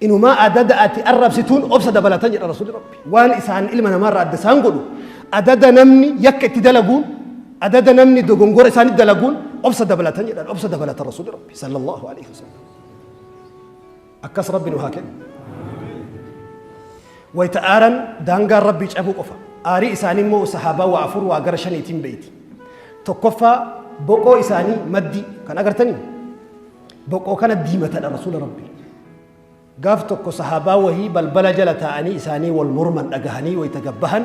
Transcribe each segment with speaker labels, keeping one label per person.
Speaker 1: Inumaa adada ati arrabsituun obsa dabalata jedha Rasuulli Rabbi. Waan isaan ilma namaarraa adda isaan godhu adada namni yakka itti dalaguun adada namni dogongora isaanitti dalaguun obsa dabalatan jedhan obsa dabalata Rasuulli Rabbi sallallahu alaihi wasallam. Akkas Rabbi nu haa kennu. Wayita aaran daangaan Rabbii cabuu qofa. Aarii isaanii immoo sahaabaa waa afur waa gara shaniitiin beeyti. Tokkoffaa boqoo isaanii maddii kan agartanii Boqoo kana diimatadha rasuula rabbii. Gaaf tokko sahaabaa wahii balbala jala taa'anii isaanii wal morman dhagahanii wayta gad bahan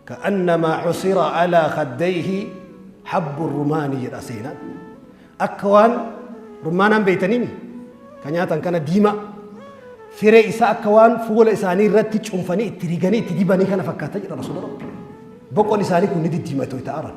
Speaker 1: ka'annamaa cusira alaa khaddayhi habbu rumaani jedha seenaan. Akka waan rummaanaan beeytaniimi ka nyaatan kana diimaa firee isaa akka waan fuula isaanii irratti cunfanii itti riganii itti dibanii kana fakkaata jedha rasuula rabbii. Boqon isaanii kun ni diddiimate wayta aaran.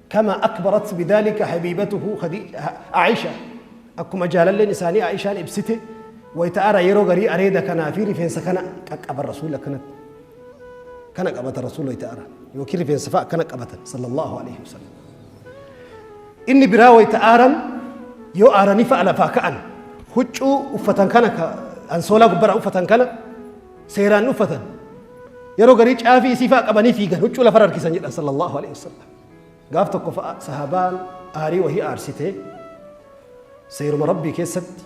Speaker 1: Kamaa akbarat bidaalika habiibatuhu Aa'isha Akkuma jaalalleen isaanii Aa'ishaan ibsite wayta ara yeroo garii areeda kanaa fi rifeensa kana qaqqaban rasuulli akkanatti. Kana qabata rasuulli wayta ara yookiin rifeensa fa'a akkana qabatan sallallahu alaihi wasallam. Inni biraa wayta aaran yoo aaranii fa'a lafaa ka'an huccuu uffatan kana ansoolaa gubbaraa uffatan kana seeraan uffatan yeroo garii caafii isii fa'a qabanii fiigan huccuu lafarra harkisan jedhan sallallahu alaihi wasallam. Gaaf tokko sahaabaan aarii wahii aarsitee seeruma rabbii keessatti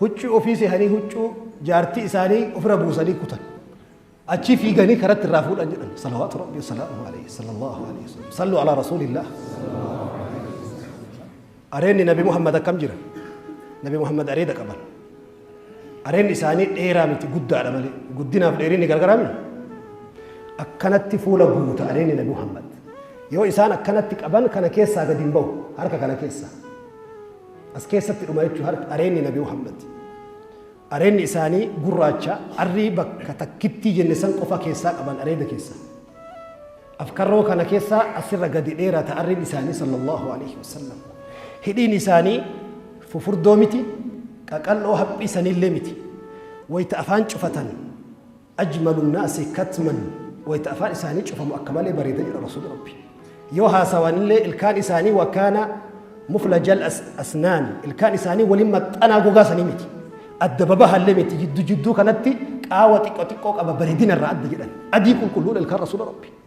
Speaker 1: huccuu ofii seehanii huccuu jaartii isaanii ofirra buusanii kutan. Achii fiiganii karatti irraa fuudhan jedhan. Salawaatu rabbii salaamu alayhi sallallahu alayhi wa sallam. Sallu alaa rasuulillah. Areenni Nabi Muhammad akkam jira? Nabi Muhammad areeda qaban. Areenni isaanii dheeraa miti guddaadha malee. Guddinaaf dheerinni gargaraa miti. Akkanatti fuula guuta areenni Nabi Muhammad. Yoo isaan akkanatti qaban kana keessaa gadi hin bahu harka kana keessaa. As keessatti dhuma jechuun areenni Nabi Muhammad. Areedni isaanii gurraacha, arrii bakka takkittii jenne san qofa keessaa qaban areeda keessa. Afkarroo kana keessaa asirra gadi dheerata arriin isaanii sallallahu alaihi wasallam. Hidhiin isaanii fufurdoo miti, qaqal'oo haphiisanillee miti. Wayta afaan cufatan. Ajmalu nnaasi katman wayta afaan isaanii cufamu akka malee bareeda jedha Rasuulli Rabbii. Yoo haasawanillee ilkaan isaanii wakaana muflajal asnaan ilkaan isaanii waliin maxxanaa gogaa sanii miti. Adda babahallee miti jiddu jidduu kanatti qaawa xiqqoo xiqqoo qaba bareedina irraa adda jedhan. Adii qulqulluudha ilkaan Rasuula Rabbii.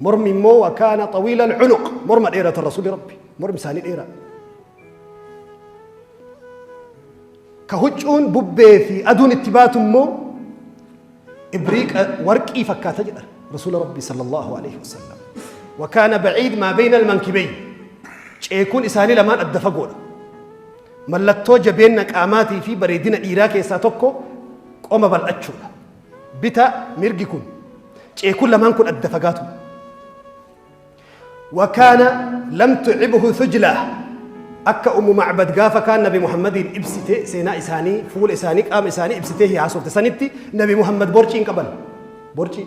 Speaker 1: Mormi immoo wakaana xawiila alcunuq morma dheeratan rasuuli rabbi mormi isaanii dheeraa. Ka huccuun bubbee fi aduun itti baatu immoo ibriiqa warqii fakkaata jedha rasuula rabbi sallallahu alaihi wasallam. Wakaana baciid maa beeyna almankibeey ceekuun isaanii lamaan adda fagoodha. Mallattoo jabeenna qaamaatii fi bareedina dhiiraa keessaa tokko qoma bal'achuudha. Bita mirgi kun ceekun lamaan kun adda fagaatu. Wakaana lam tucibuhu thujlaa akka ummu macbad gaafa kaan nabi muhammadiin ibsite seenaa isaanii fuula isaanii qaama isaanii ibsitee haasofte sanitti nabi muhammad borcii hin qaban borcii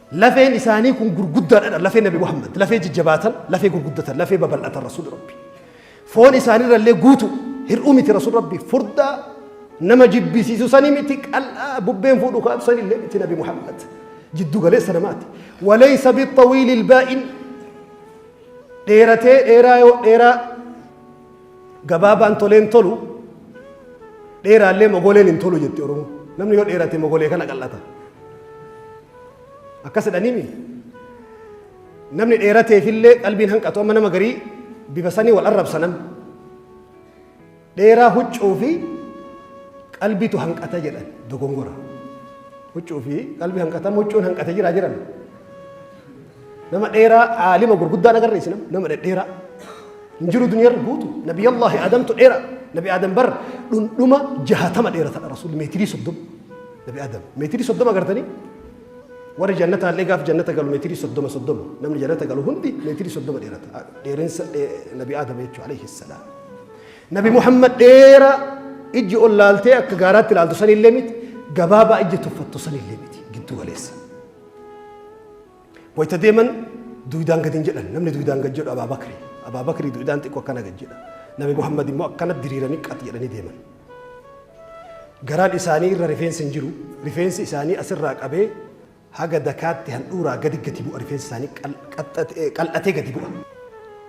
Speaker 1: Lafeen isaanii kun gurguddaadha lafee Nabi Muhammad lafee jajjabaatan lafee gurguddatan lafee babal'atan Rasuul Rabbi foon isaanirra illee guutu hir'uu miti Rasuul Rabbi furdaa nama jibbisiisu sanii miti qal'aa bubbeen fuudhu kaatu sanii illee miti Nabi Muhammad jiddu galeessa namaati walaysa bixawiili ilbaa'in dheeratee dheeraa yoo dheeraa Gabaabaan tolee hin tolu, dheeraallee mogoleen hin tolu jetti Oromoo. Namni yoo dheerate mogolee kana qal'ata. Akkas jedhaniimi. Namni dheerateefillee qalbiin hanqatu amma nama garii bifa sanii wal arrabsa namni. Dheeraa huccuu fi qalbiitu hanqata jedhan dogongora. Huccuu fi qalbii hanqata huccuun hanqate jira jiran. nama dheeraa aalima gurguddaan agarre isin nama dhedheeraa hin jiru duniyarra guutu nabi allahi aadamtu dheeraa nabi aadam bar dhundhuma jahatama dheeratadha rasuul meetirii soddoma nabi aadam meetirii soddoma agartanii warri jannata illee gaaf jannata galu meetirii soddoma soddoma namni jannata galu hundi meetirii soddoma dheerata dheerinsa nabi aadam jechuudha alayhi salaam nabi muhammad dheeraa ijji ol laaltee akka gaaraatti laaltu sanillee miti gabaabaa ijji tuffattu sanillee miti giddu galeessa Wayita deeman duudaan gadi hin jedhan. Namni duudaan gad jedhu Abaa Bakri. Abaa Bakri duudaan xiqqoo akkana gad jedha. Nabi Muhammad immoo akkana diriiranii qat jedhanii deeman. Garaan isaanii irra rifeensi hin jiru. Rifeensi isaanii asirraa qabee haga dakaatti handhuuraa gadi gadi bu'a. Rifeensi isaanii qal- qaxxate- eh, qal'atee gadi bu'a.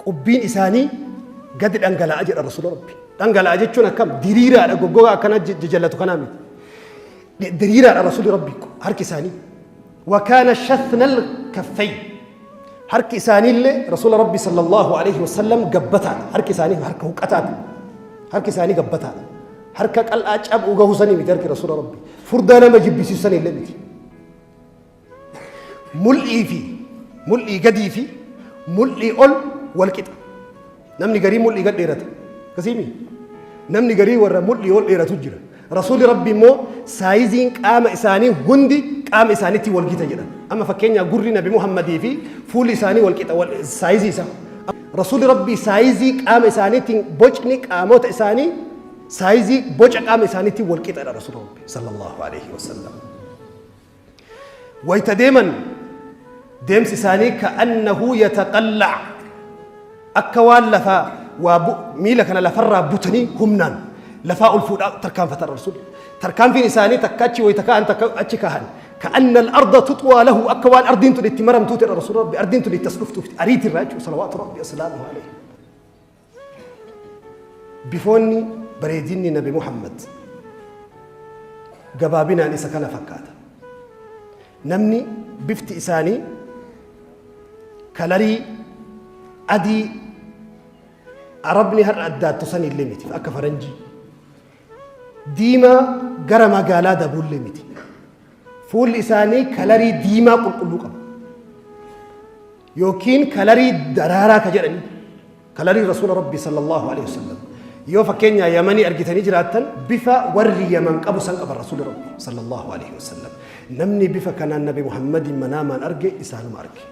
Speaker 1: Qubbiin isaanii gadi dhangala'a jedha Rasuula Rabbi. Dhangala'a jechuun akkam diriiraadha goggogaa akkana jajallatu kanaa miti. Diriiraadha Rasuulli Rabbii kun harki isaanii. Wakaana shathnal kaffay. Harki isaanii illee Rasuula Rabbii sallallahu alaihi wasallam gabbataadha. Harki isaanii harka huqqataati. Harki isaanii gabbataadha. Harka qal'aa cabuu gahuu sanii miti harki Rasuula Rabbii. Furdaa nama jibbisiisu sanii illee miti. Mul'ii fi mul'ii gadii fi mul'ii ol wal qixa. Namni garii mul'ii gad dheerata. Akkasiimi? Namni garii warra mul'ii ol dheeratu jira. Rasuulli Rabbi immoo saayiziin qaama isaanii hundi qaama isaaniitti wal gita jedha. Amma fakkeenyaa gurri Nabi Muhammadii fi fuulli isaanii wal qixa wal- saayizii isaa. Rasuulli Rabbi saayizii qaama isaaniitiin bocni qaamota isaanii saayizii boca qaama isaaniitiin wal qixadha Rasuulli Rabbi sallallahu alaihi wasallam. Wayta deeman deemsi isaanii ka'annahu yataqalla akka waan lafaa waa bu- miila kana lafarraa butanii humnaan lafaa ol fuudhaa tarkaanfatan rasuulli. Tarkaanfiin isaanii takka achi wayta ka'an takka achi ka'an. Ka'anna al-arda tuxwaa lahu akka waan ardiin tun itti maramtuuti rasuulli rabbi ardiin tun itti as dhuftuufti ariitirraa jechuudha salawaatu rabbi asalaamu alaihi. Bifoonni bareedinni Nabi Muhammad gabaabinaan isa kana fakkaata. Namni bifti isaanii kalarii adii arabni har'a addaattu san illee miti akka faranjii. Diimaa gara magaalaa dabuullee miti. Fuulli isaanii kalarii diimaa qulqulluu qaba. yookiin kalarii daraaraa ka jedhani kalarii rasuula rabbii sallallahu alaihi wasallam yoo fakkeenyaa yamanii argitanii jiraattan bifa warri yaman qabu san qaban rasuula rabbii sallallahu alaihi wasallam namni bifa kanaan nabi muhammadiin manaamaan arge isaanuma arge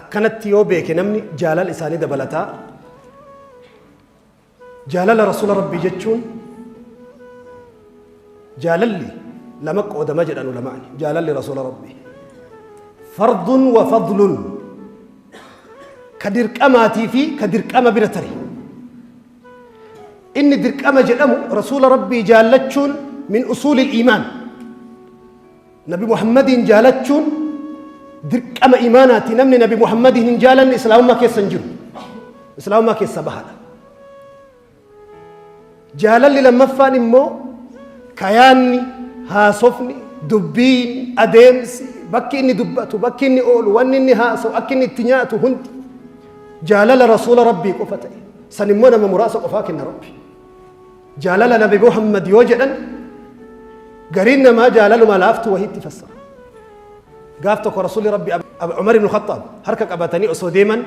Speaker 1: akkanatti yoo beeke namni jaalala isaanii dabalataa Jaalala Rasuula Rabbii jechuun jaalalli lama qoodama jedhan ulamaani. Jaalalli Rasuula Rabbii. Fardun wa fadlun. Ka dirqamaatii fi ka dirqama bira tare. Inni dirqama jedhamu Rasuula Rabbii jaallachuun min usuulil iimaan. Nabi Muhammadiin jaalachuun dirqama imaanaati. Namni Nabi Muhammadiin hin jaalanne Islaamummaa keessa hin jiru. Islaamummaa keessa bahaadha. Jaalalli lammaffaan immoo kayaanni, haasofni, dubbiin, adeemsi, bakki inni dubbatu, bakki inni oolu, wanni inni haasawu, akki inni itti nyaatu hundi jaalala rasuula rabbii qofa ta'e. San immoo nama muraasa qofaa kenna rabbi. Jaalala Nabi Muhammad yoo jedhan gariin namaa jaalaluma laaftu wahiitti fassara. Gaaf tokko Rasuulli Rabbi Umar ibn Khattaab harka qabatanii osoo deeman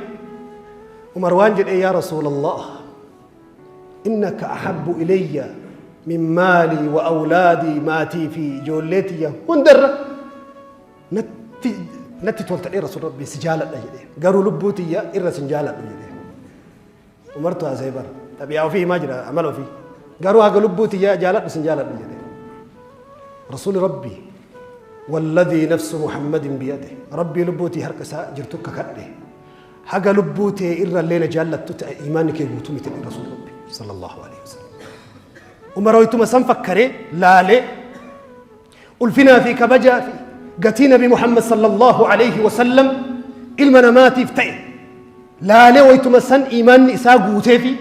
Speaker 1: Umar waan jedhee yaa Rasuulallah innaka ahabbu ilayya min maalii wa awlaadii maatii fi ijoollee tiyya hundarra natti natti toltadhee Rasuul Rabbi si jaaladha jedhee garuu lubbuu tiyya irra sin jaaladhu jedhee. Umartu haasa'e bar. Xabiyaa ofii himaa jira amala ofii. Garuu haga lubbuu tiyyaa jaaladhu sin jaaladhu jedhe. Rasuuli Rabbi walladhii nafsu Muhammadin biyade Rabbii lubbuu tiyya harka isaa jirtu kakadhe. Haga lubbuu tee irra illee na jaallattu ta'e imaanni kee guutuu miti jedhe Rasuuli Rabbi sallallahu alaihi wasallam. Umar hoytuma san fakkaree laalee Ulfinaa fi kabajaa fi gatii Nabi Muhammad sallallahu alayhi wa sallam ilma namaatiif ta'e laalee waytuma san iimaanni isaa guutee fi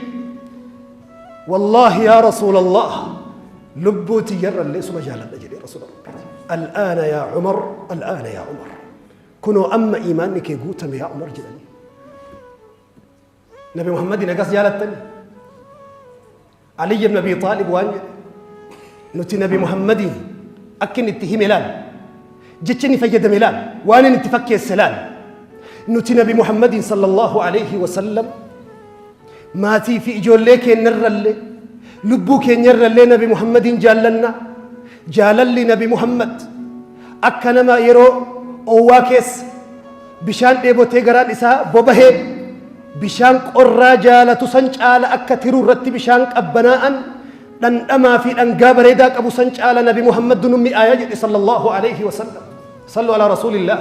Speaker 1: wallaahi yaa rasuulallah lubbuu tiyyarra illee suma jaaladha jedhee rasuula rabbiiti. Al'aana yaa Umar, al'aana yaa Umar. Kunoo amma iimaanni kee guutame yaa Umar jedhanii. Nabi Muhammadiin akkas jaalattani. Aliyyi ibn Abi Xaalib waan jedhe. Nuti Nabi Muhammadiin akka inni itti hime laal. Jecha inni fayyadame laal. Waan inni itti fakkeesse laal. Nuti Nabi Muhammadiin sallallahu alayhi wa sallam maatii fi ijoollee keenyarrallee lubbuu keenyarrallee Nabi Muhammadiin jaallanna. Jaalalli Nabi Muhammad akka nama yeroo oowwaa keessa Bishaan dheebotee garaan isaa bobahee bishaan qorraa jaalatu san caala akka tiruu irratti bishaan qabbanaa'an dhandhamaa fi dhangaa bareedaa qabu san caala nabi Muhammad nu mi'aaya jedhe sallallahu alayhi wa sallam. Sallu ala rasuulillah.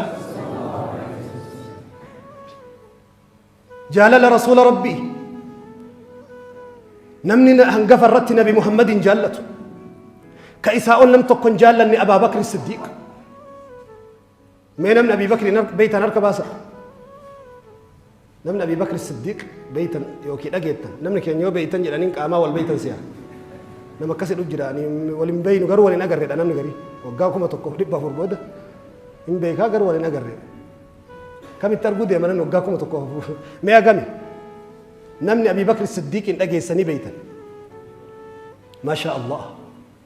Speaker 1: Jaalala rasuula rabbii. Namni hangafa irratti nabi Muhammad hin jaallatu. Ka isaa ol nam tokko hin jaallanne Abaabakri Siddiiq. Mee namni Abii Bakri beeytan harka baasa. Namni Abii Bakri Siddiiq beeytan yookiin dhageettan namni keenya yoo beeytan jedhaniin qaamaa wal beeytan si'a. Nama akkasii dhuf jira wal hin beeynu garuu wal hin agarreedha namni garii waggaa kuma tokkoof dhibba afur booda hin beekaa garuu wal hin agarree. Kamitti arguu deema namni waggaa kuma tokkoof mee agami namni Abii Bakri Siddiiqiin dhageessanii beeytan. Maashaa Allah.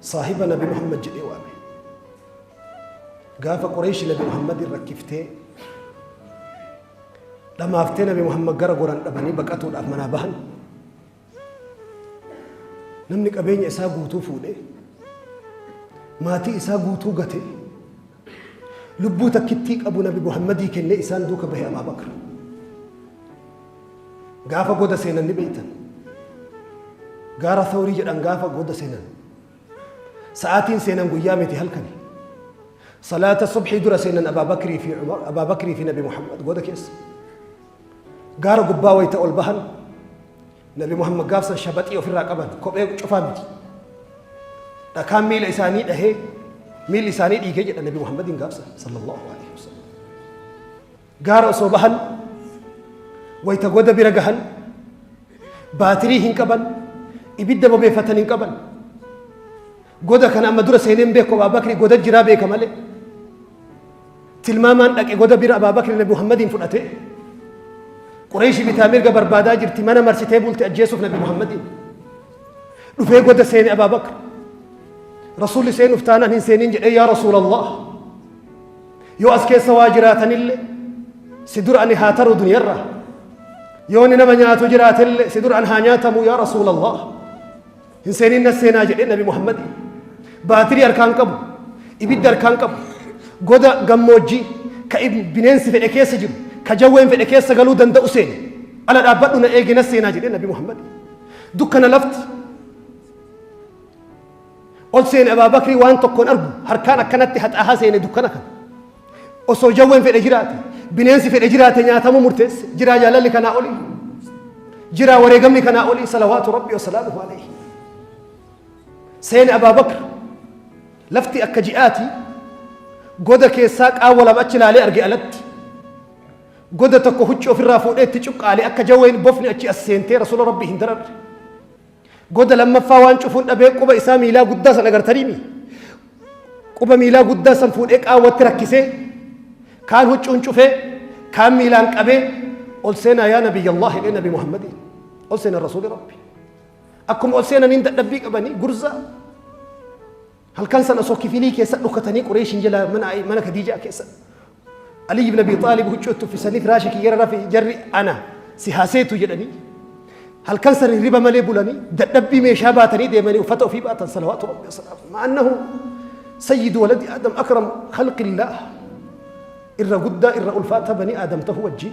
Speaker 1: Saahiba Nabi Muhammad jedhee waame. Gaafa Qureeshi Nabi Muhammadin rakkiftee dhamaaftee Nabi Muhammad gara goran dhabanii baqatuudhaaf manaa bahan. Namni qabeenya isaa guutuu fuudhee maatii isaa guutuu gatee Lubbuu takkittii qabu nabi Muhammadii kennee isaan duuka bahe Abaa Bakr. Gaafa goda seenan ni beeytan. Gaara Thawrii jedhan gaafa goda seenan. Sa'aatiin seenan guyyaa miti halkani. Salaata subhii dura seenan Abaa Bakrii fi Umar, Abaa Bakrii fi nabi Muhammad goda keessa. Gaara gubbaa wayita ol bahan Nabi Muhammad gaafsan shabaxii ofirraa qaban kophee cufaa miti. Dhakaan miila isaanii dhahee miilli isaanii dhiigee jedha Nabi Muhammadiin gaafsan sallallahu alaihi wasallam. Gaara osoo bahan wayita goda bira gahan baatirii hin qaban ibidda bobeeffatan hin qaban. Goda kana amma dura seenee hin beeku Abaabakri goda jiraa beeka malee. Tilmaamaan dhaqe goda bira Abaabakri Nabi Muhammadiin fudhate. Qureeshii bitaa mirga barbaadaa jirti mana marsitee bulti ajjeesuuf Nabi Muhammadiin. Dhufee goda seene Abaabakri. Rasuulli seenuuf taanaan hin seeniin jedhee yaa Rasuulallah. Yoo as keessa waa jiraatanillee si dura ani haa taru duniyarra. Yoo ni nama nyaatu jiraatellee si dura an haa nyaatamu yaa Rasuulallah. Hin seenin na seenaa jedhee nabi Muhammad baatirii harkaan qabu, ibidda harkaan qabu, goda gammoojjii ka bineensi fedhe keessa jiru, ka jawween fedhe keessa galuu danda'u seene. Ala dhaabbadhu na eegi na seenaa jedhee nabi Muhammad. Dukkana lafti ol seene Abaa Bakrii waan tokkoon argu harkaan akkanatti haxaahaa seene dukkana kana. Osoo jawween fedhe jiraate, bineensi fedhe jiraate nyaatamuu murteesse. Jiraa jaalalli kanaa olii. Jiraa wareegamni kanaa olii salawaatu rabbi wasalaamuhu alayhi. Seena Abaa Bakr lafti akka ji'aati goda keessaa qaawwa lama achi ilaalee arge alatti. Goda tokko huccuu ofirraa fuudhee itti cuqqaalee akka jawween bofni achi as seentee rasuula rabbi hin dararre. Goda lammaffaa waan cufuun dhabee quba isaa miilaa guddaa san agartaniimi. Quba miilaa guddaa san fuudhee qaawwatti rakkisee kaan huccuun cufee kaan miilaan qabee ol seenaa yaa nabiyya Allah jedhee nabi Muhammadiin ol seenaa rasuuli rabbi. Akkuma ol seenaniin dadhabbii qabanii gurzaa Halkan san osoo kifilii keessa dhokatanii Qureeshiin jala mana Ayi- mana Kadiijaa keessa Aliyyi ibn Abi Xaalib huccuu itti uffisanii firaasha kiyyara rafi jarri ana si haaseetu jedhanii halkan san hirriba malee bulanii dadhabbii meeshaa baatanii deemanii uffata ofii baatan salawaatu rabbi wasalaamu ma'annahu sayyidu waladi aadam akram khalqillaah irra guddaa irra ulfaata banii aadam ta'uu wajjin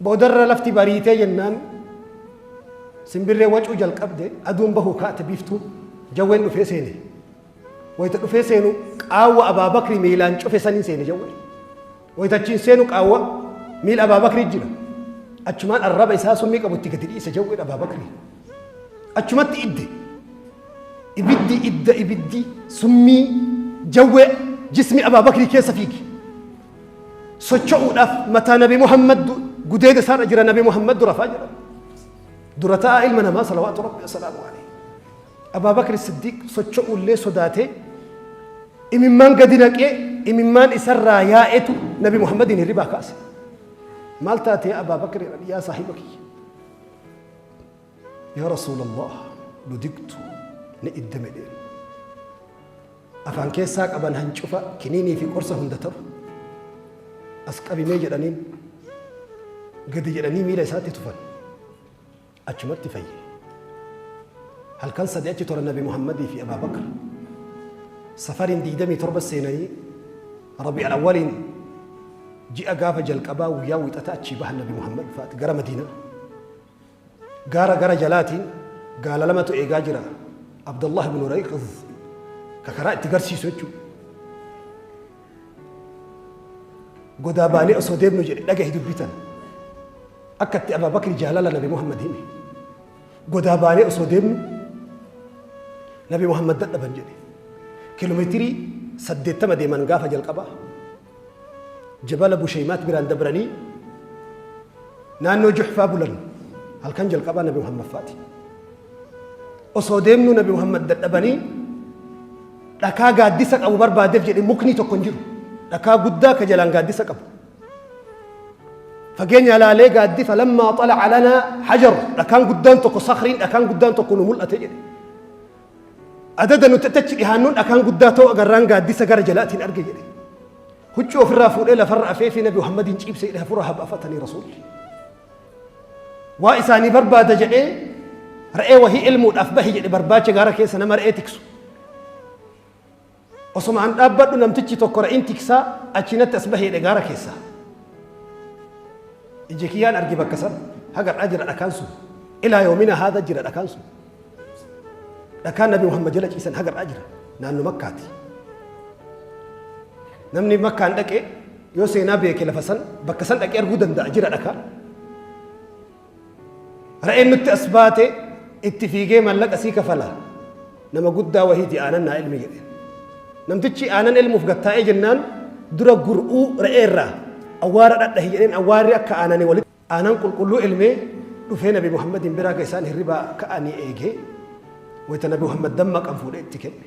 Speaker 1: Boodarra lafti bariitee jennaan simbirreen wacuu jalqabde, aduun bahuu kaate biiftuun, jawween dhufee seene. Wayita dhufee seenu qaawwa Abaa Bakri miilaan cufe saniin seene jawween. Wayita achiin seenu qaawwa miila Abaa Bakri jira. Achumaan arraba isaa summii qabu itti gadi dhiise jawween Abaa Bakri. Achumatti idde. Ibiddi idda ibiddi summii jawwee jismi Abaa Bakri keessa fiige. socho'uudhaaf mataa nabi Muhammad gudeeda isaarra jira nabi Muhammad dura faa jedhama. Dura ta'a ilma namaa salawaatu rabbi assalaamu alayhi. Abaa Bakri Siddiiq socho'ullee sodaatee imimmaan gadi naqee imimmaan isarraa yaa'etu nabi Muhammadiin hirribaa kaase. Maal taatee Abaa Bakri yaa saahiba kiyya. Yaa Rasuulallah nu digtu ni iddame deemu. Afaan keessaa qaban hancufa kiniinii fi qorsa hunda ta'u. As qabimee jedhaniin gadi jedhanii miila isaatti tufan. Achumatti fayye. Halkan sadi achi tura Nabi Muhammadii fi Abaa Bakr. Safariin digdamii torba seenanii Rabi'al Awwaliin ji'a gaafa jalqabaa guyyaa wixata achii bahan Nabi Muhammad fa'aati gara Madiinaa. Gaara gara jalaatiin gaala lamatu eegaa jira. Abdallah ibn Urayqidh ka karaa itti garsiisu jechuudha. Godaa baanee osoo deemnu jedhe dhagahi dubbitan. Akka itti Abaa Bakri jaalala Nabi Muhammad hime. Godaa baanee osoo deemnu Nabi Muhammad dadhaban jedhe. Kiiloomeetirii saddeettama deeman gaafa jalqabaa. Jabala Busheymaat biraan dabranii naannoo Juhfaa bulan. Halkan jalqabaa Nabi Muhammadfaati. Osoo deemnuu Nabi Muhammad dadhabanii dhakaa gaaddisa qabu barbaadeef jedhe mukni tokko hin jiru. Dhakaa guddaa ka jalaan gaaddisa qabu. Fageenya ilaalee gaaddi falammaa xalaca lanaa hajaru dhakaan guddaan tokko sakriin dhakaan guddaan tokko nu mul'ate jedhe. Adada nuti achi dhihaannuun dhakaan guddaa ta'uu agarraan gaaddisa gara jalaatiin arge jedhe. Huccuu ofirraa fuudhee lafarra afeefii Nabi Muhammadiin ciibse jedhe hafuura habafatanii rasuulli. Waa isaanii barbaada jedhee re'ee wahii ilmuudhaaf bahi jedhe barbaacha gaara keessa nama re'ee tiksu. Osoma an dhaabbadhu namtichi tokko ra'iin tiksaa achii natti as bahee dhe gaara keessaa. Ija kiyyaan arge bakka san hagadhaa jira dhakaan sun. Ilaa yoomina haada jira dhakaan sun. Dhakaan Nabi Muhammad jala ciisan hagadhaa jira naannoo makkaati. Namni makkaan dhaqe yoo seenaa beeke lafa san bakka san dhaqee arguu danda'a jira dhakaa. Re'een nutti as baate itti fiigee mallaqa sii kafala nama guddaa wahiiti aanan naa elmi jedhe. Namtichi aanan elmuuf gattaa'ee jennaan dura gur'uu re'ee irraa awwaara dhadhahi jedheen awwaarri akka aanani walitti aanan qulqulluu elmee dhufee nabi Muhammadiin biraa ga isaan hirribaa ka'anii eegee wayita nabi Muhammad dammaqan fuudhee itti kenne.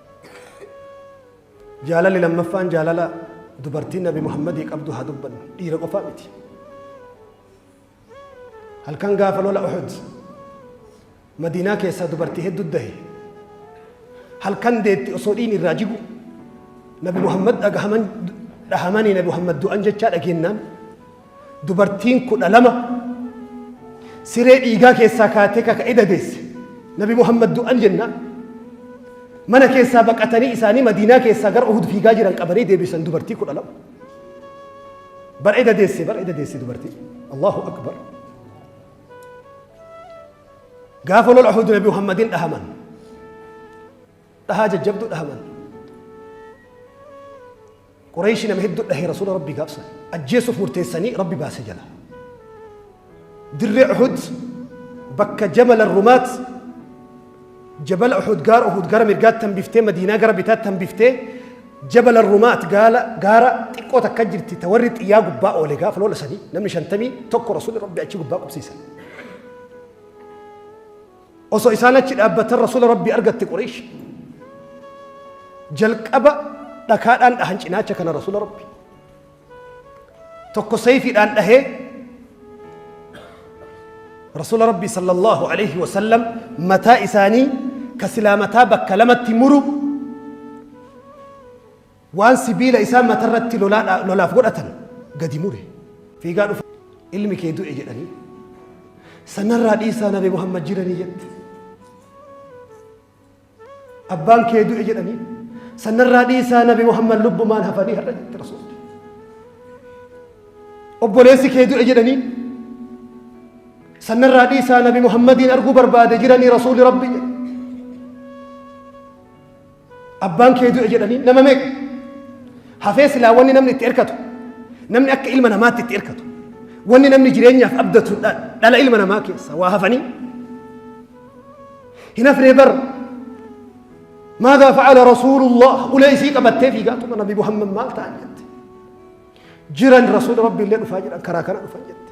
Speaker 1: Jaalalli lammaffaan jaalala dubartiin Nabi Muhammadii qabdu haa dubbannu. Dhiira qofaa miti. Halkan gaafa lola Uhud Madiinaa keessaa dubartii hedduu dahe. Halkan deetti osoo dhiin irraa jigu Nabi Muhammad dhagahaman dhahamanii Nabi Muhammad du'an jechaa dhageennaan dubartiin kudha lama siree dhiigaa keessaa kaatee kaka'ee dadeesse nabi muhammad du'an jenna mana keessaa baqatanii isaanii madiinaa keessaa gara uhud fiigaa jiran qabanii deebisan dubartii kudha lama bar'ee dadeesse bar'ee dadeesse dubartii allahu akbar gaafa lola uhud nabi muhammadin dhahaman dhahaa jajjabduu dhahaman qureeshi nama hedduu dhahee rasuula rabbii gaabsan ajjeesuuf murteessanii rabbi baase jala dirree uhud bakka jabala rumaat jabala uhud gaara uhud gara mirgaatti hambiftee madiinaa gara bitaatti hambiftee jabala rumaat gaala gaara xiqqoo takka jirti ta warri xiyyaa gubbaa oole gaafa lola sanii namni shantamii tokko rasuulli rabbi achi gubbaa qubsiisan Osoo isaan achi dhaabbatan Rasuula Rabbii argatte Qureesh. Jalqaba dhakaadhaan dhahan cinaacha kana Rasuula Rabbii. Tokko sayfiidhaan dhahee Rasuula Rabbii sallallahu alaihi wasallam mataa isaanii ka silaa mataa bakka lamatti muru Waan sibiila isaan matarratti lolaadhaa, lolaaf godhatan gadi mure. Fiigaa dhufa ilmi kee du'e jedhanii. Sanarraa dhiisaa Nabi Muhammad jiranii jette. Abbaan kee du'e jedhanii. Sanarraa dhiisaa Nabi Muhammad lubbumaan hafanii har'a jette Rasuulli. Obboleessi kee du'e jedhanii. Sanarraa dhiisaa Nabi Muhammadiin arguu barbaade jiranii Rasuulli Rabbi jedhe. Abbaan kee du'e jedhanii nama meeqa? Hafee silaa wanni namni itti hirkatu, namni akka ilma namaatti itti hirkatu, wanni namni jireenyaaf abdatu dha- dhala ilma namaa keessa waa hafanii. Hin hafnee bar. Maadaa fa'ala rasuulullah ulee isii qabattee fiigaa tuma nabi Muhammad maal ta'an jette. Jiran rasuula rabbi illee dhufaa jedhan karaa kana dhufan jette.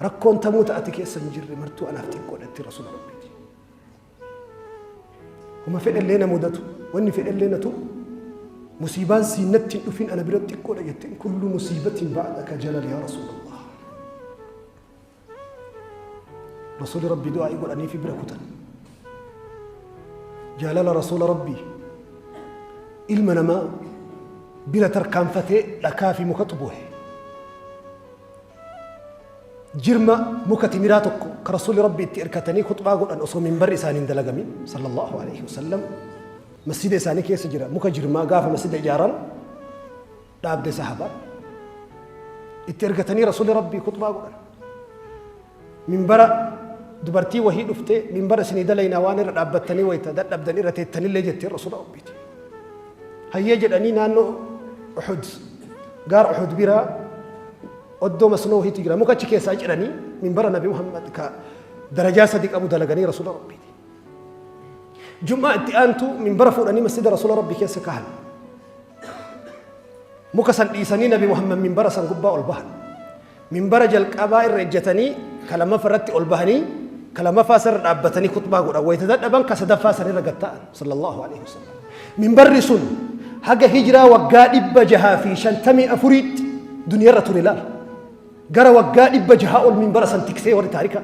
Speaker 1: Rakkoon tamoota ati keessa hin jirre martuu anaaf xiqqoodha itti rasuula rabbiiti. Homa fedhallee na mudatu wanni fedhallee na tuqu musiibaan siin natti hin dhufin ana bira xiqqoodha jetteen kullu musiibatiin ba'adha ka jalal yaa rasuula Allah. Rasuuli rabbii du'aa godhanii fi bira kutan. Jaalala rasuula rabbii ilma namaa bira tarkaanfatee dhakaa fi mukatu bu'e. jirma muka timiraa tokko ka rasuulli rabbi itti irkatanii khuxbaa godhan osoo minbarri isaanii hin dalagamin sallallahu alaihi wasallam masjida isaanii keessa jira muka jirmaa gaafa masjida ijaaran dhaabde sahaba itti ergatanii rasuulli rabbii khuxbaa godhan Minbara dubartii wahii dhuftee minbara isinii dalaynaa waan irra dhaabbattanii wayta dadhabdan irra teettanillee jetteen Rasuula Rabbiiti. Hayyee jedhanii naannoo Uhud gaara Uhud biraa oddoo masnoo wahiitu jira muka achi keessaa ciranii minbara Nabi Muhammad ka darajaa sadi qabu dalaganii Rasuula Rabbiiti. Jum'aa itti aantu minbara fuudhanii masjida Rasuula Rabbii keessa kahan. Muka san dhiisanii Nabi Muhammad minbara san gubbaa ol bahan. Minbara jalqabaa irra ejjatanii ka lammaffaa irratti ol bahanii ka lammaffaa san irra dhaabbatanii khuxbaa godhan wayita dadhaban ka sadaffaa san irra gad ta'an sallallahu alaihi wasallam. Minbarri sun haga hijraa waggaa dhibba jahaa fi shantamii afuriitti duniyarra ture laal. Gara waggaa dhibba jahaa ol minbara san tiksee warri taarikaa.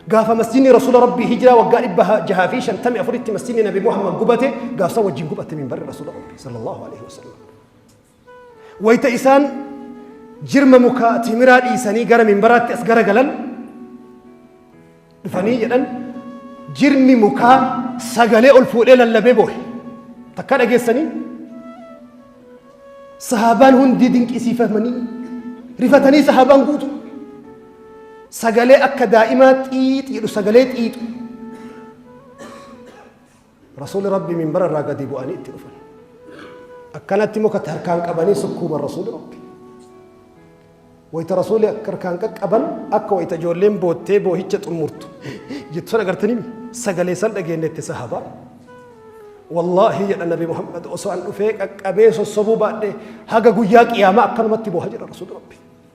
Speaker 1: Gaafa masjidni Rasuula Rabbii hijraa waggaa dhibba jahaa fi shantamii afuritti masjidni Nabi Muhammad gubate gaafsa wajjin gubatte minbarri Rasuula Rabbii sallallahu alaihi wasallam. Wayta isaan jirma muka timiraa dhiisanii gara minbaraatti as garagalan dhufanii jedhan jirmi mukaa sagalee ol fuudhee lallabee boohe takka dhageessanii sahaabaan hundi dinqisiifamanii rifatanii sahaabaan guutu sagalee akka daa'imaa xiixi jedhu sagalee xiixu Rasuulli Rabbi minbara irraa gadi bu'anii itti dhufan. Akkanatti mukatti harkaan qabanii sukkuuman Rasuulli Rabbi. Wayita Rasuulli akka harkaan qaqqaban akka wayita ijoolleen boottee boohicha xumurtu jettu san agartanii sagalee san dhageenyetti sahabaa. Wallaahi jedha Nabi Muhammad osoo an dhufee qaqqabee sossobuu baadhee haga guyyaa qiyaamaa akkanumatti booha jedha Rasuulli Rabbi.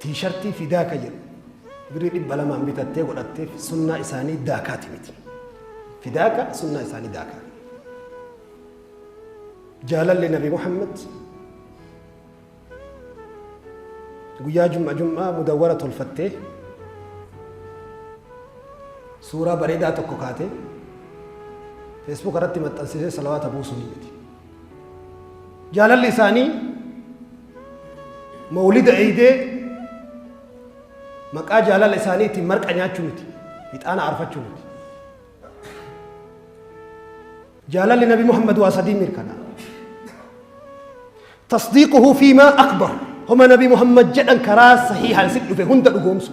Speaker 1: Tiishartii Fidaaka jedhu birrii 200n bitattee godhatteef sunnaa isaanii daakaati miti. Fidaaka sunnaa isaanii daakaa. Jaalalli Nabi Muhammad guyyaa jum'a jum'aa mudawwara tolfattee suuraa bareedaa tokko kaatee feesbuuk irratti maxxansisee salawaata buusuun miti. Jaalalli isaanii mawlida eeydee maqaa jaalala isaanii ittiin marqa nyaachuu miti. Ixaana aarfachuu miti. Jaalalli Nabi Muhammad waa sadii mirkanaa. Tasdiiquhu fiimaa akbar. Homa Nabi Muhammad jedhan karaa sahiihaan si dhufe hunda dhugoomsu.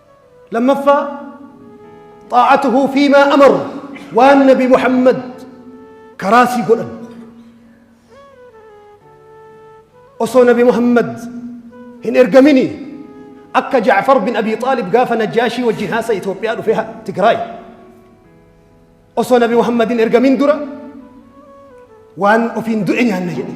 Speaker 1: Lammaffaa xaa'atuhu fiimaa amar waan nabi Muhammad karaa sii godhan. Osoo nabi Muhammad hin ergamini akka Jaafar bin Abi Xaalib gaafa Najjaashii wajjin haasa Itoophiyaa dhufee ha- Tigraay. Osoo nabi Muhammad hin ergamin dura waan ofiin du'e nyaanna jedhe.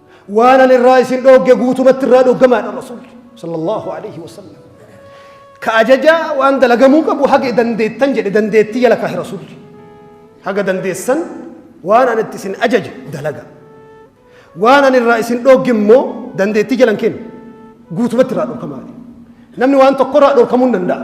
Speaker 1: waan an irraa isin dhoogge guutumatti irraa dhoggamaadha rasuulli sallallahu alaihi wasallam ka ajaja waan dalagamuu qabu haga dandeettan jedhe dandeettii jala kaahe rasuulli haga dandeessan waan an itti isin ajaje dalaga waan an irraa isin dhoogge immoo dandeettii jalan kennu guutumatti irraa dhorkamaadha namni waan tokko irraa dhorkamuu hin danda'a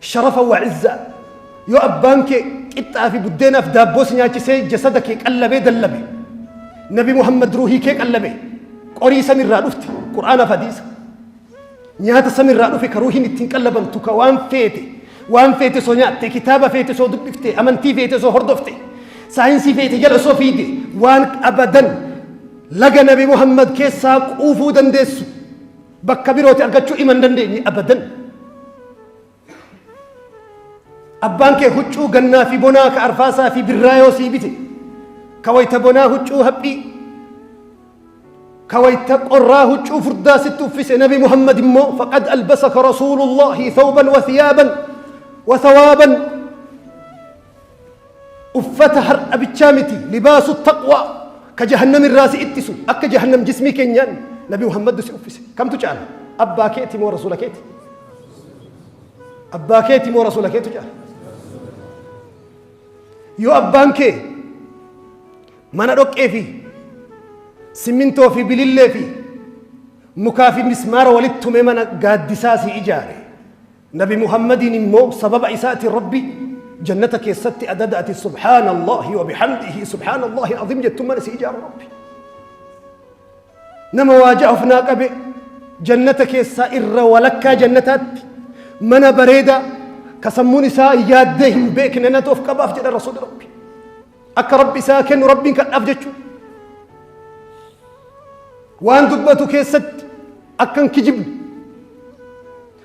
Speaker 1: Sharafa wa izza yoo abbaan kee qixxaa fi buddeenaaf daabboo si nyaachisee jasada kee qallabee dallabe nabi muhammad ruuhii kee qallabe qorii samirraa dhufte qur'aanaaf hadiisa nyaata samirraa dhufe ka ruuhiin ittiin qallabamtu ka waan feete waan feete soo nyaatte kitaaba feete soo dubbifte amantii feete soo hordofte saayinsii feete jala soo fiide waan abadan laga nabi muhammad keessaa quufuu dandeessu bakka birooti argachuu iman dandeenye abadan. Abbaan kee huccuu gannaa fi bonaa ka arfaasaa fi birraa yoo sii bite ka wayta bonaa huccuu haphii ka wayta qorraa huccuu furdaa sitti uffise nabi Muhammad immoo faqad albasaka rasuulullaahi thawban wa thiyaaban wa thawaaban Uffata har'a bichaa miti libaasu taqwaa ka jahannam irraa si ittisu akka jahannam jismii keenyaan nabi Muhammaddu si uffise kamtu caala abbaa keeti moo rasuula keeti abbaa keeti moo rasuula keetu caala yoo abbaan kee mana dhoqqee fi simmintoo fi bilillee fi mukaa fi mismaara walitti tumee mana gaaddisaa si ijaare Nabi Muhammadiin immoo sababa isaatiin Rabbi jannata keessatti adada ati subhaanallahi wa bihamdihi subhaanallahi al-azim jettu mana si ijaara Rabbi. Nama waa ja'a of naa qabe jannata keessaa irra walakkaa jannataatti mana bareedaa ka sammuun isaa yaaddee hin beekne natu of qabaaf jedha rasuulli Rabbi. Akka Rabbi isaa kennu Rabbiin kadhaaf jechuudha. Waan dubbatu keessatti akkan kijibne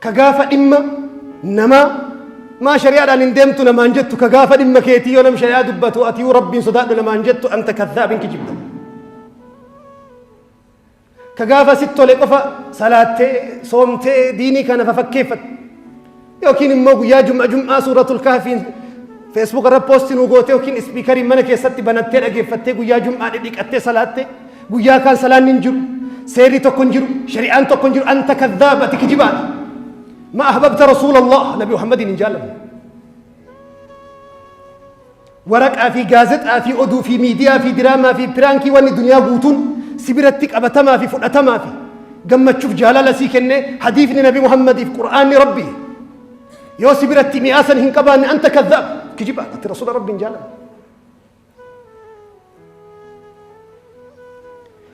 Speaker 1: ka gaafa dhimma namaa maa shari'aadhaan hin deemtu namaan jettu ka gaafa dhimma keetii yoo nam shari'aa dubbatu ati yoo rabbiin sodaadhu namaan jettu anta kadhaabin kijibda ka gaafa sit tole qofa salaattee soomtee diinii kana fafakkeeffatu yookiin immoo guyyaa jum'a jum'aa suuratul kahfiin feesbuuk irra poosti nuu gootee yookiin ispiikariin mana keessatti banattee dhageeffattee guyyaa jum'aa dhidhiqattee salaattee Guyyaa kaan salaanni hin jiru, seerri tokko hin jiru, shari'aan tokko hin jiru, anta kadhaab ati kijibaadha. Ma ahbabta rasuulallah nabi Muhammadiin hin jaallanne. Waraqaa fi gaazexaa fi oduu fi miidiyaa fi diraamaa fi piraankii wanni duniyaa guutuun si biratti qabatamaa fi fudhatamaa fi gammachuuf jaalala sii kenne hadiifni nabi Muhammadiif qur'aanni rabbi yoo si biratti mi'aasan hin qabaanne anta kadhaab kijibaadha ati rasuula rabbi hin jaallanne.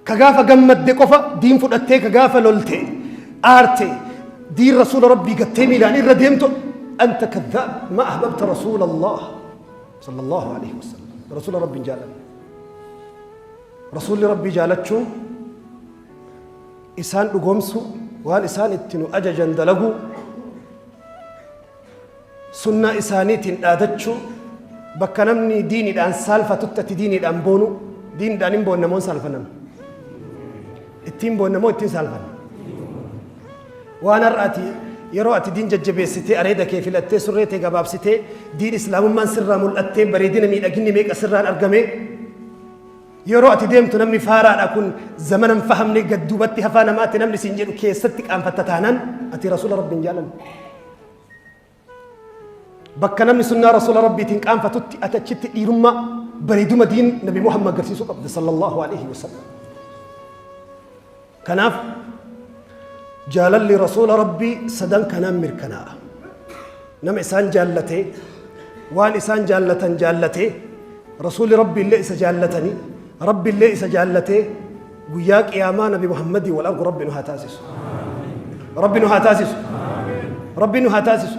Speaker 1: ka gaafa gammadde qofa diin fudhattee ka gaafa lolte aarte diin rasuula rabbii gattee miilaan irra deemtu anta kadhaab ma ahbabta rasuula allah sala allahu alaihi wasalam rasuula rabbiin jaalan rasuulli rabbii jaalachuun isaan dhugoomsu waan isaan itti nu ajajan dalaguu Sunnaa isaaniitiin dhaadachuu, bakka namni diinidhaan saalfatutti ati diinidhaan boonu, diinidhaan hin boonna moo hin saalfannan? Ittiin boonna moo ittiin saalfanna? Waan har'a ati yeroo ati diin jajjabeessitee areeda kee filattee surree tee gabaabsitee diin islaamummaan sirraa mul'attee bareedina miidhaginni meeqa sirraan argamee Yeroo ati deemtu namni faaraadha kun zamana hin fahamne gad duubatti hafaa namaatti namni siin jedhu keessatti qaanfatta taanaan ati rasuula rabbi hin jaalanne. Bakka namni sunnaa rasuula rabbiitiin qaanfatutti ati achitti dhiirummaa bareeduma diin nabi Muhammad agarsiisuu qabda sallallahu alaihi wasallam. Kanaaf jaalalli rasuula rabbii sadan kanaan mirkanaa'a. Nama isaan jaallatee waan isaan jaallatan jaallatee rasuuli rabbi illee isa jaallatanii rabbi illee isa jaallatee guyyaa qiyaamaa nabi Muhammadii wal argu rabbi nu haa taasisu. Rabbi nu haa taasisu. Rabbi nu haa taasisu.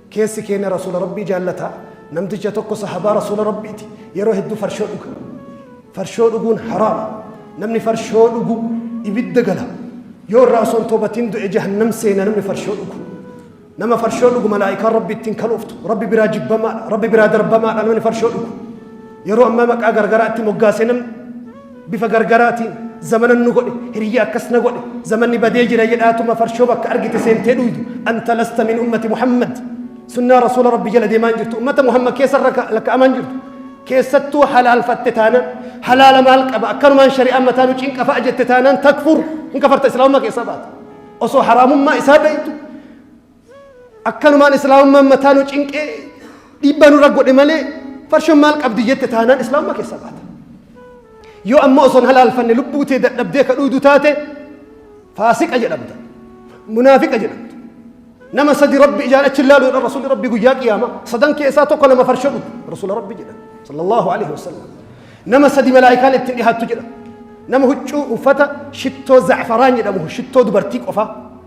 Speaker 1: Keessi keenya Rasuula Rabbii jaallata. Namticha tokko sahabaa Rasuula Rabbiiti. Yeroo hedduu farshoo dhuga. Farshoo dhuguun haraama. Namni farshoo dhugu ibidda gala. Yoo irraa osoo hin toobatiin du'e jahannam seena namni farshoo dhugu. Nama farshoo dhugu malaa'ikaan Rabbi ittiin kalooftu. Rabbi biraa jibbamaadha. Rabbi biraa darbamaadha namni farshoo dhugu. Yeroo ammaa maqaa gargaraatti moggaasee namni Bifa gargaraatiin zamanan nu godhe, hiriyya akkas na godhe, zamanni badee jira jedhaatuma farshoo bakka argite seentee dhuydu. Anta lasta min ummati Muhammad. Sunnaa Rasuula Rabbii jala deemaa hin jirtu. Ummata Muhammad keessa lakka'amaa hin jirtu. Keessattuu halaalfatte taanaan halaala maal qaba akkanumaan shari'aan mataa nu cinqa fa'a jette taanaan takfur hin kafarta islaamummaa keessaa baata. Osoo haraamummaa isaa beektu Akkanumaan islaamummaan mataa nu cinqee dhiibbaa nurra godhe malee farshoon maal qabdi jette taanaan islaamummaa keessa baata. Yoo ammoo osoo hin halaalfanne lubbuu tee dadhabdee ka dhuudu taate faasiqa jedhamta. Munaafiqa jedhamta. Nama sadi rabbi ijaan achi ilaalu jedhan rasuulli rabbi guyyaa qiyaama sadan keessaa tokko nama farsho dhugu rasuula rabbi jedhan sallallahu alaihi wasallam. Nama sadi malaa'ikaan ittiin dhihaattu jedha. Nama huccuu uffata shittoo za'faraan jedhamu shittoo dubartii qofa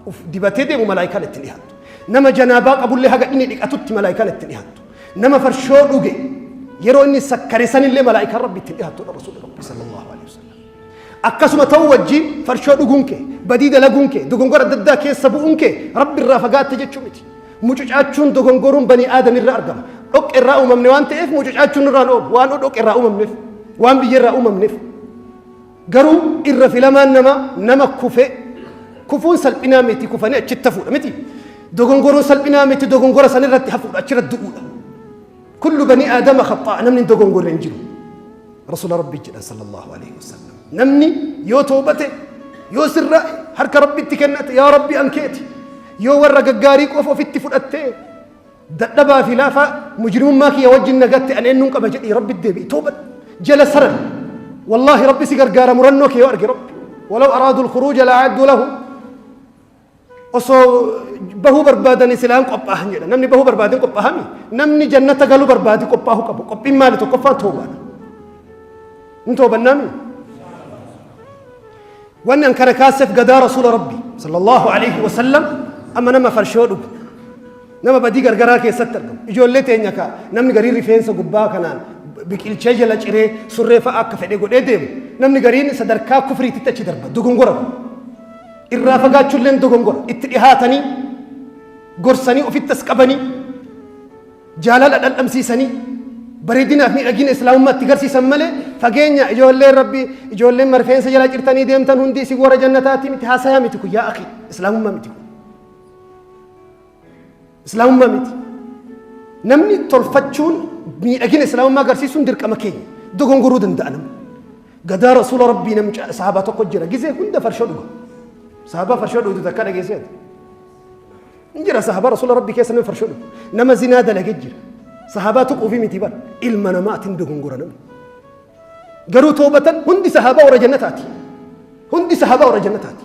Speaker 1: uf dibatee deemu malaa'ikaan ittiin dhihaattu. Nama janaabaa qabullee haga inni dhiqatutti malaa'ikaan ittiin dhihaattu. Nama farshoo dhuge yeroo inni sakkare sanillee malaa'ikaan rabbi ittiin dhihaattu dha rasuulli rabbi sallallahu alaihi wasallam. Akkasuma ta'uu wajjin farshoo dhuguun kee, badii dalaguun kee, dogongora adda addaa keessa bu'uun kee Rabbi irraa fagaatte jechuu miti. Mucucaachuun dogongoruun banii aadam irra argama. Dhoqqe irraa uumamne waan ta'eef mucucaachuun irraan oolu waan dhoqqe irraa uumamneef, waan biyya irraa uumamneef. Garuu irra filamaan namaa nama kufee kufuun salphinaa miti kufanii achitti hafuudha miti. Dogongoruun salphinaa miti dogongora san irratti hafuudha achirratti du'uudha. Kullu banii aadama khaxxaa'a namni hin dogongorre hin jiru. Rasuula Rabbii jedhan sallallahu alaihi wasallam. Namni yoo toobate yoo sirra harka Rabbitti kennate yaa Rabbi an keeti yoo warra gaggaarii qofa ofitti fudhattee dadhabaa fi laafaa mujrimummaa kiyya wajjin nagatte an eenyuun qaba jedhii Rabbitti deebi'i tooba jala saran. Wallaahi Rabbi si gargaara murannoo kee yoo arge Rabbi. Walaw araadul khuruuja la'aaddu lahu osoo bahuu barbaadanii silaan qophaahan jedha. Namni bahuu barbaadeen qophaahami. Namni jannata galuu barbaade qophaahuu qabu. Qophiin maali tokkoffaa toobaadha. Hin toobannaami. Wanni an kana kaaseef gadaa rasuula rabbi sallallahu alaihi wasallam amma nama farshoo dhugu. Nama badii gargaraa keessatti argamu. Ijoollee teenya kaa namni garii rifeensa gubbaa kanaan biqilchee jala ciree surree fa'a akka fedhe godhee deemu. Namni gariin sadarkaa kufriititti achi darba. Dogongora kun. Irraa fagaachuulleen dogongora. Itti dhihaatanii gorsanii ofitti as qabanii jaalala dhandhamsiisanii bareedinaaf miidhagina islaamummaa itti garsiisan malee fageenya ijoolleen rabbi ijoolleen marfeensa jalaa cirtanii deemtan hundi isin warra jannataati miti haasaya miti kun yaa akhi islaamummaa miti kun. Islaamummaa miti. Namni tolfachuun miidhagina islaamummaa agarsiisuun dirqama keenya. Dogongoruu danda'a namni. Gadaa rasuula rabbii nam sahabaa tokko jira gisee hunda farshoo dhuga. Sahabaa farshoo dhugdu takka dhageessee ati. Hin jira sahabaa rasuula rabbii keessa nama farshoo dhugu. Nama zinaa dalagee jira. Sahabaa tuquufi miti bara. Ilma namaatiin dogongora namni. Garuu toobatan hundi sahabaa warra jannataati. Hundi sahabaa warra jannataati.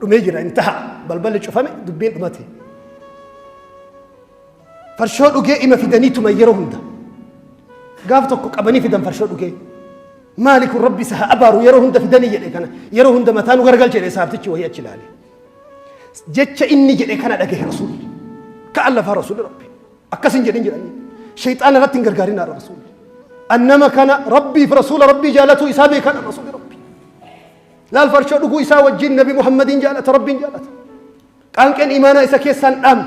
Speaker 1: dhumee jira hin taha balballi cufame dubbiin dhumate farshoo dhugee ima fidanii tuma yeroo hunda gaaf tokko qabanii fidan farshoo dhugee maali kun rabbi isa haa abaaru yeroo hunda fidanii jedhe kana yeroo hunda mataa nu gargalche jedhe saabtichi wayii achi ilaale jecha inni jedhe kana dhagahe rasuulli ka'an lafaa rasuulli rabbi akkas hin jedhin jedhanii shayxaana irratti hin gargaarin haadha rasuulli annama kana rabbiif rasuula rabbii jaalatuu isaa beekan rasuulli Laal farshoo dhuguu isaa wajjin Nabi Muhammadiin jaalata, Rabbiin jaalata. Qaanqeen imaanaa isa keessaan dhaamne.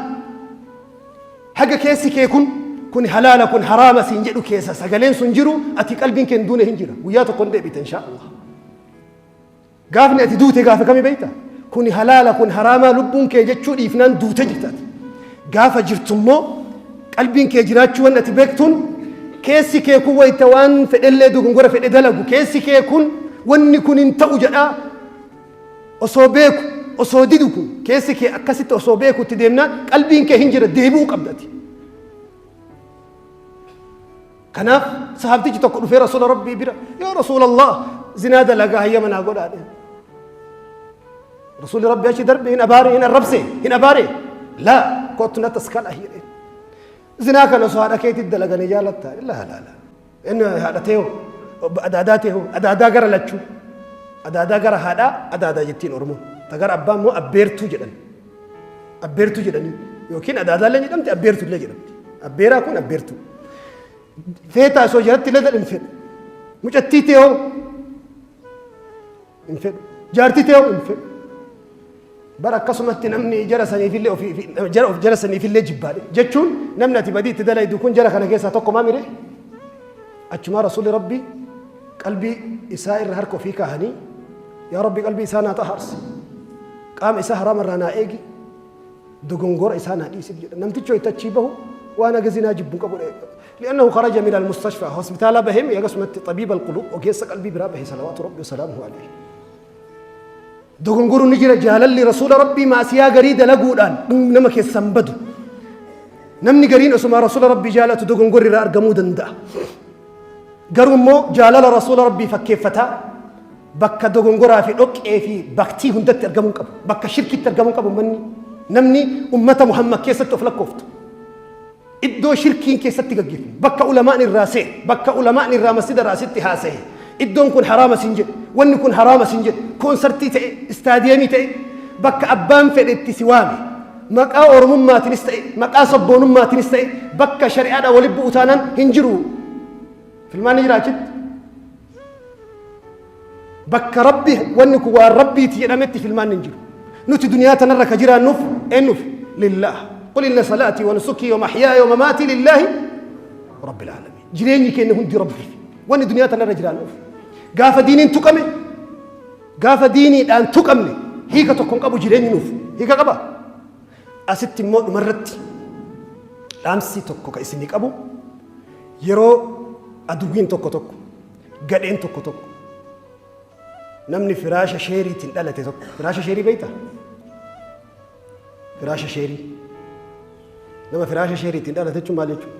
Speaker 1: Haga keessi kee kun kun halaala kun haraama siin jedhu keessa sagaleen sun jiru ati qalbiin kee hin duune hin jira. Guyyaa tokko hin deebita inshaa Allah. Gaafni ati duute gaafa kami beekta? Kun halaala kun haraamaa lubbuun kee jechuu dhiifnaan duute jirtaati. Gaafa jirtu immoo qalbiin kee jiraachuu waan ati beektuun keessi kee kun wayita waan fedhellee dogongora fedhe dalagu keessi kee kun wanni kun hin ta'u jedhaa osoo beeku osoo didu kun keessi kee akkasitti osoo beeku itti deemnaan qalbiin kee hin jira deebi'uu qabdati. Kanaaf sahaabtichi tokko dhufee rasuula rabbii bira yaa rasuula Allah zinaa dalagaa hayyama naa godhaa dhe. Rasuulli rabbii achi darbe hin abaare hin arrabse hin abaare laa kottu na taskala jedhe. Zinaa kana osoo haadha keetii dalaganii jaalatta laa laa laa inni haadha ta'e hoo adaadaa ta'e hoo adaadaa gara lachuu adaadaa gara haadhaa adaadaa jettiin oromoon ta gara abbaa immoo abbeertuu jedhan. Abbeertuu jedhanii yookiin adaadaallee jedhamti abbeertuullee jedhamti. Abbeeraa kun abbeertuu. Feetaa osoo jalatti illee hin fedhu. Mucattii teeoo hin fedhu. Jaartii teeoo hin fedhu. Bara akkasumatti namni jara saniifillee ofii jara of jara saniifillee jibbaadhe jechuun namni ati badii itti dalaydu kun jara kana keessaa tokko maa mire achumaa rasuulli rabbii Qalbii isaa irra harka ofii kaahanii, Yaa Rabbi qalbii isaa naa xahaarsi, qaama isaa haraama irraa naa eegi, dogongora isaa naa dhiisif jedhan. Namtichi wayita achii bahu waan haga zinaa jibbu hin qabu. Li'annahu kharaja min al-mustashfaa hospitaalaa bahee mi hagasumatti xabiib al-quluub ogeessa qalbii biraa bahe salawaatu rabbi wasalaamuhu alayhi. Dogongoru ni jira jaalalli rasuula rabbii maasiyaa garii dalaguudhaan dhum nama keessaa hin badu. Namni gariin osuma rasuula rabbii jaalatu dogongorri irraa argamuu danda'a. Garuu immoo jaalala rasuula rabbii fakkeeffataa bakka dogongoraa fi dhoqqee fi baktii hundatti argamuu hin qabu. Bakka shirkitti argamuu hin qabu manni namni ummata Muhammad keessatti of lakkooftu. iddoo shirkiin keessatti gaggeeffamu, bakka ulama'ni irraa se'e, bakka ulama'ni irraa masjida irraa asitti haasaye, iddoon kun haraama siin jedhe, wanni kun haraama siin jedhe, koonsartii ta'e, istaadiyeemii ta'e, bakka abbaan fedhe itti si waame, maqaa Oromummaatinis ta'e, maqaa sabboonummaatinis ta'e, bakka shari'aadhaan walitti bu'u taanaan hin jiru. Filmaanni jira achitti? Bakka Rabbi wanni kun waan Rabbiiti jedhametti filmaanni hin jiru. Nuti duniyaa tanarra ka jiraannuuf eennuuf? Lillaah. Qul inna salaatii wa nusukii wa mahyaaya wa mamaatii lillaahi rabbil aalamiin. Jireenyi keenya hundi Rabbiif. Wanni duniyaa tanarra jiraannuuf. Gaafa diiniin tuqame gaafa diiniidhaan tuqamne hiika tokko hin qabu jireenyi nuuf. Hiika qaba? Asitti immoo dhumarratti dhaamsi tokko ka isinii qabu yeroo aduwwiin tokko tokko Gadheen tokko tokko namni firaasha sheeriitiin dhalate tokko firaasha sheerii beekta? Firaasha sheerii. Nama firaasha sheeriitiin dhalate jechuun maal jechuudha?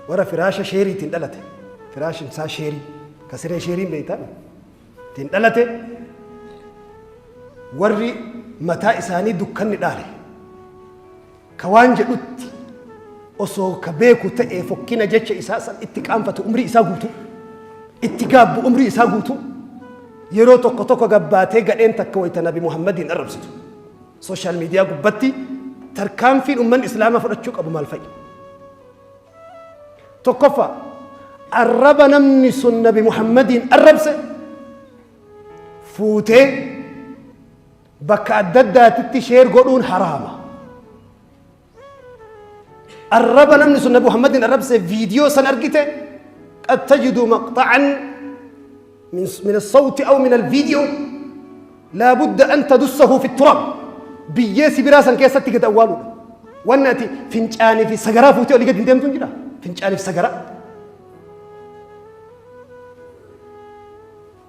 Speaker 1: Warra firaasha sheeriitiin dhalate firaashin isaa sheerii ka siree sheeriin beektaa ittiin dhalate warri mataa isaanii dukkanni dhaale. Ka waan jedhutti osoo ka beeku ta'e fokkina jecha isaa san itti qaanfatu umrii isaa guutuu itti gaabbu umrii isaa guutuu yeroo tokko tokko gabbaatee gadheen takka wayita nabi muhammadiin arrabsitu sooshaal miidiyaa gubbatti tarkaanfiin ummanni islaamaa fudhachuu qabu maal fa'i tokkoffaa arraba namni sun nabi muhammadiin arrabse fuutee Bakka adda addaatitti sheer godhuun haraama. Arraba namni sun Nabi Muhammadin arrabse viidiyoo san argite qad tajidu maqxa'an min min as-sawti aw min al-video laa budda an tadussahu fi turab biyyee sibiraa san keessatti gad awwaaluudha. Wanni ati fincaanii fi sagaraa fuutee olii gad hin deemtu hin jira. Fincaanii fi sagaraa.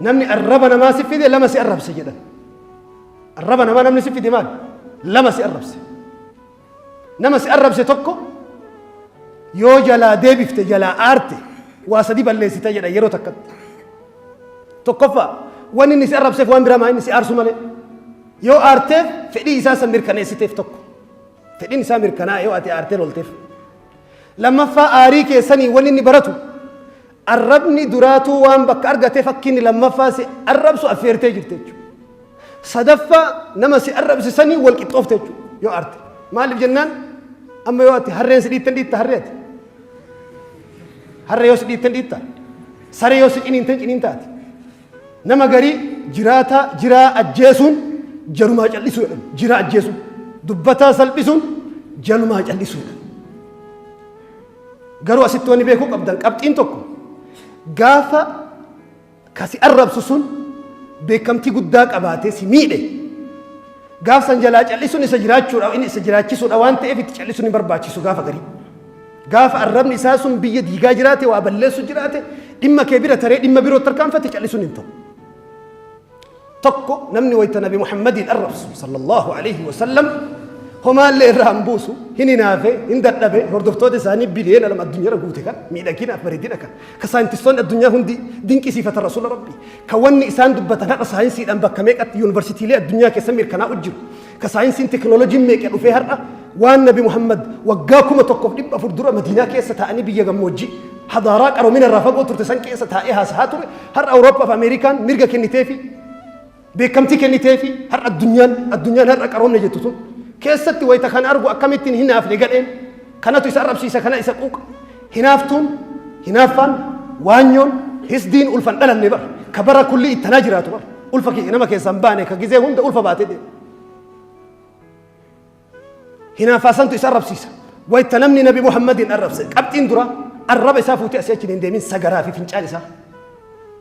Speaker 1: Namni arraba namaa si fide lama si arrabse jedhan. Arraba namaa namni si fide maal? Lama si arrabse. Nama si arrabse tokko yoo jalaa deebifte jalaa aarte waa sadi balleessita jedha yeroo takkatti. Tokkoffaa wanni inni si arrabseef waan biraa maa inni si aarsu malee yoo aarteef fedhii isaa san mirkaneessiteef tokko. Fedhiin isaa mirkanaa yoo ati aartee lolteef. Lammaffaa aarii keessanii wanni inni baratu Arrabni duraatuu waan bakka argateef akka inni lammaffaa si arrabsu affeertee jirta jechuudha. Sadaffaa nama si arrabse saniin wal qixxoofte jechuudha yoo arte. Maaliif jennaan amma yoo ati harreen si dhiittan dhiitta harree ati. Harree yoo si dhiittan dhiitta. Saree yoo si ciniintan ciniinta ati. Nama garii jiraataa jiraa ajjeesuun jarumaa callisuu jedhama. Jiraa ajjeesuun. Dubbataa salphisuun jalumaa callisuu jedhama. Garuu asitti wanni beekuu qabdan qabxiin tokko gaafa kasi arrabsu sun beekamtii guddaa qabaatee si miidhe gaafsan jalaa callisuun isa jiraachuudha inni isa jiraachisuudha waan ta'eef itti callisuun hin barbaachisu gaafa garii. Gaafa arrabni isaa sun biyya diigaa jiraate waa balleessu jiraate dhimma kee bira taree dhimma biroo tarkaanfate callisuun hin ta'u. tokko namni wayta nabi muhammadiin arrabsu sallallahu alaihi wasallam homaallee irraa hin buusu hin hinaafe hin dadhabe hordoftoota isaanii biliyeena lama addunyaarra guute kan miidhagina bareedina kan ka saayintistoonni addunyaa hundi dinqisiifatan rasuula rabbii ka wanni isaan dubbatan haqa saayinsiidhaan bakka meeqatti yuunivarsiitiilee addunyaa keessa mirkanaa'u jiru Ka saayinsiin tekinooloojiin meeqa dhufee har'a waan Nabi Muhammad waggaa kuma tokkoof dhibba afur dura Madiinaa keessa taa'anii biyya gammoojjii hadaaraa qaroomina irraa fagoo turte san keessa taa'ee haasahaa ture har'a Awurooppaa fi Ameerikaan mirga kennitee fi beekamtii kennitee fi har'a addunyaan addunyaan har'a qaroomne jettu sun keessatti wayita kan argu akkamittiin hin haafne gadheen Kanatu isa arrabsiisa kana isa quuqa. Hinaaftuun, hinaaffaan, waanyoon, hisdiin ulfa hin dhalanne bar. Ka bara kulli ittanaa jiraatu bar. Ulfa kiyya nama keessaa hin baane ka gizee hunda ulfa baatee deema. Hinaaffaa santu isa arrabsiisa. Wayta namni nabi Muhammadiin arrabse qabxiin dura arraba isaa fuutee asii achi hin deemin sagaraa fi fincaan isaa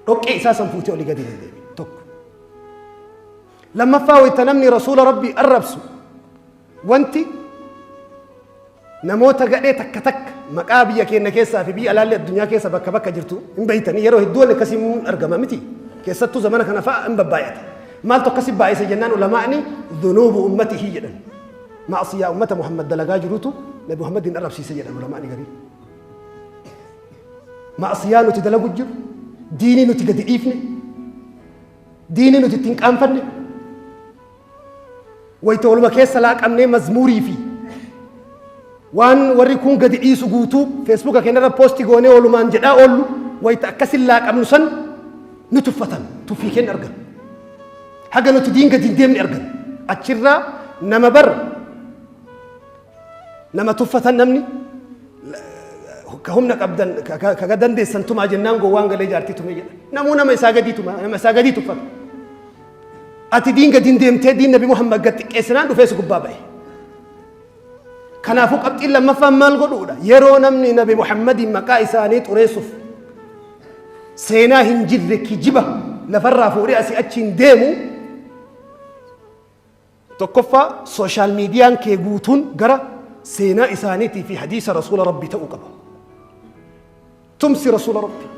Speaker 1: dhoqqee isaa san fuutee olii gadi hin deemin tokko. Lammaffaa wayta namni rasuula rabbii arrabsu Wanti namoota gadhee takka takka maqaa biyya keenya keessaa fi biyya alaallee addunyaa keessa bakka bakka jirtu hin beeytanii yeroo hedduu wanni akkasii hin argama miti. Keessattuu zamana kana fa'a hin babbaay'ata. Maaltu akkasi baay'ise jennaan ulamaa'ni dhunuubu ummatihi jedhan. Maasiyaa ummata Muhammad dalagaa jirutu Nabi Muhammad hin arrabsiise jedhan ulamaa'ni garii. Maasiyaa nuti dalagu jiru, diinii nuti gadi dhiifne, diinii nuti ittiin qaanfanne, wayta waluma keessa laaqamnee mazmuurii fi waan warri kun gadi dhiisu guutuu feesbuuka keenyarra poosti goonee walumaan jedhaa oollu wayta akkasin laaqamnu san nu tuffatan tuffii keenya argan haga nuti diin gadi hin deemne argan achirraa nama bar nama tuffatan namni ka humna qabdan ka- ka- kaga dandeessan tumaa jennaan gowwaan galee jaartii tumee jedha namuu nama isaa gadii tuma nama isaa gadii tuffata Ati diin gadiin deemtee diin Nabi Muhammad gad xiqqeessinaan dhufee si gubbaa ba'e. Kanaafuu qabxiin lammaffaan maal godhuudha? Yeroo namni Nabi Muhammadiin maqaa isaanii xureessuuf seenaa hin jirre kijiba lafarraa fuudhee asii achiin deemu Tokkoffaa, social median kee guutuun gara seenaa isaaniitii fi hadiisa Rasuula Rabbii ta'uu qaba. Tumsi Rasuula Rabbii.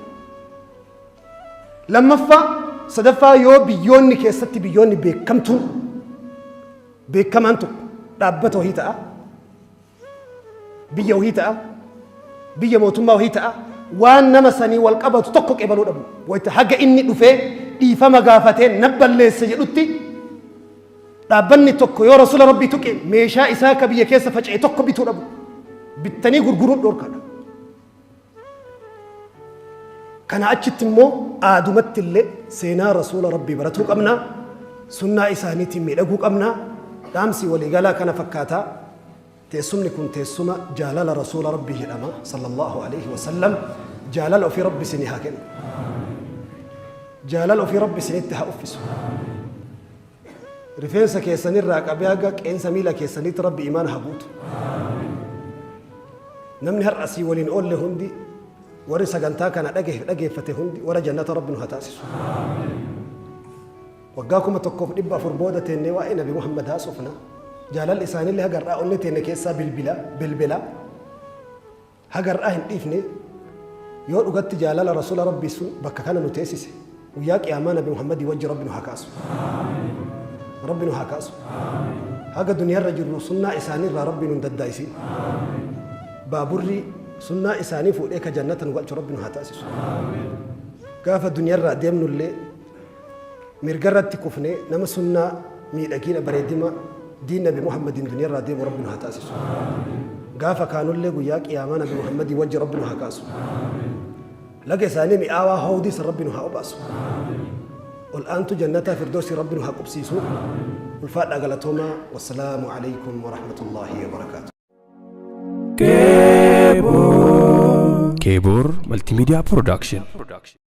Speaker 1: Lammaffaa, sadaffaa yoo biyyoonni keessatti biyyoonni beekamtuun beekamaan tokko dhaabbata wahii ta'a. biyya wahii ta'a biyya mootummaa wahii ta'a waan nama sanii wal qabatu tokko qeebaluu dhabu wayita haga inni dhufee dhiifama gaafatee nan balleesse jedhutti dhaabbanni tokko yoo rasuula rabbii tuqe meeshaa isaa ka biyya keessa faca'e tokko bituu dhabu bittanii gurguruun dhorkadha Kanaa achitti immoo aadumatti illee seenaa rasuula rabbii baratuu qabna, sunnaa isaaniitiin miidhaguu qabna, dhaamsi waliigalaa kana fakkaata. Teessumni kun teessuma jaalala rasuula rabbii jedhama sallallahu alaihi wasallam jaalala ofii rabbi isinii haa kennu. Jaalala ofii rabbi isinitti haa uffisu. Rifeensa keessan irraa qabee haga qeensa miila keessaniitti Rabbi imaana haa guutu. Namni har'a sii waliin oolle hundi warri sagantaa kana dhage- dhageeffate hundi warra jannata Rabbi nu haa taasisu. Waggaa kuma tokkoof dhibba afur booda teennee waa'ee Nabi Muhammad haasofna. Jaalalli isaaniillee haga har'aa onnee teenne keessaa bilbila bilbila. Haga har'aa hin dhiifne, yoo dhugatti jaalala Rasuula Rabbii sun bakka kana nu teessise, Guyyaa Qiyaamaa Nabi Muhammadii wajji Rabbi nu haa kaasu. Rabbi nu haa kaasu. Haga duniyaa irra jirru sunnaa isaanii irraa Rabbi nu hin daddaayisin. Baaburri sunnaa isaanii fuudhee ka Jannata nu galchu Rabbi nu haa taasisu. Gaafa duniyaa irraa deemnu illee, Mirgarratti kufne nama sunnaa miidhagiina bareedima diin nabi Muhammadiin duniyarraa deemu rabbi nu haa taasisu. Gaafa kaanullee guyyaa qiyaamaa nabi Muhammadii wajji rabbi nu haa kaasu. Laga isaanii mi'aawaa hawdii san rabbi nu haa obaasu. Ol aantu jannataa firdoosii rabbi nu haa qubsiisu. Ulfaadhaa galatoomaa. Wassalaamu alaikum wa rahmatullaahi wa barakaatu.
Speaker 2: Kebor Multimedia Production.